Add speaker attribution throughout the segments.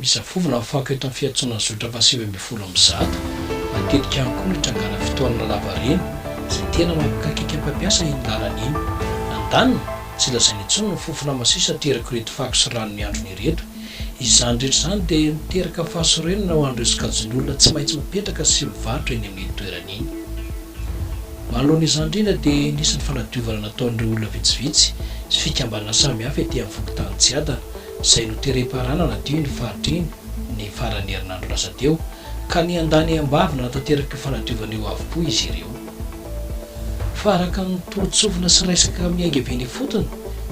Speaker 1: Misafovina ho fako eto amin'ny fiantsoana zotra fahasivy ambin'ny folo amin'ny zato. Matetika ihany koa no itranganan'ny fitohanana lavareny izay tena mampikaikaika mpampiasa iny lalana iny. Andaniny, tsy lazaina intsony ny fofona masiso aterako'ireto fako sy rano mihandrona ireto. Izany rehetra izany dia miteraka fahasorenana ho an'ireo sokajin'olona tsy maintsy mipetraka sy mivarotra eny amin'iny toerana iny. Manoloana izany indrindra dia nisy ny fanadiovana nataon'ireo olona vitsivitsy sy fikambanana samihafa ety amin'ny fokontany Tsiadana izay noterem-paharana nadio iny faritra iny ny faran'ny herinandro lasa teo ka niandany am-bavy nanatanteraka io fanadiovana io avokoa izy ireo. Fa araka ny toro-tsofina sy resaka miainga avy eny ifotony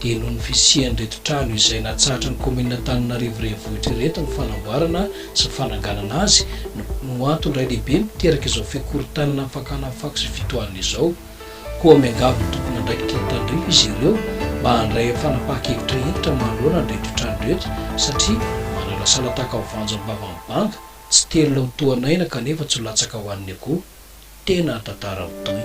Speaker 1: dia noho ny fisian'ireto trano izay natsahatra ny kaominina Antananarivo Renivohitra ireto ny fanamboarana sy fananganana azy no antony iray lehibe miteraka izao fikorontanana ny fakana fako sy fitohanana izao. Koa miangavy ny tompon'andraikitra ny tandrify izy ireo mba handray amin'ny fanapahan-kevitra hentitra manoloana ny retrotrany rehetra satria manalasala tahaka ny voanjo am-bavan'ny banga, tsy telina ho toa an'aina kanefa tsy ho latsaka ho an'ny akoho. Tena an-tantara mitohy.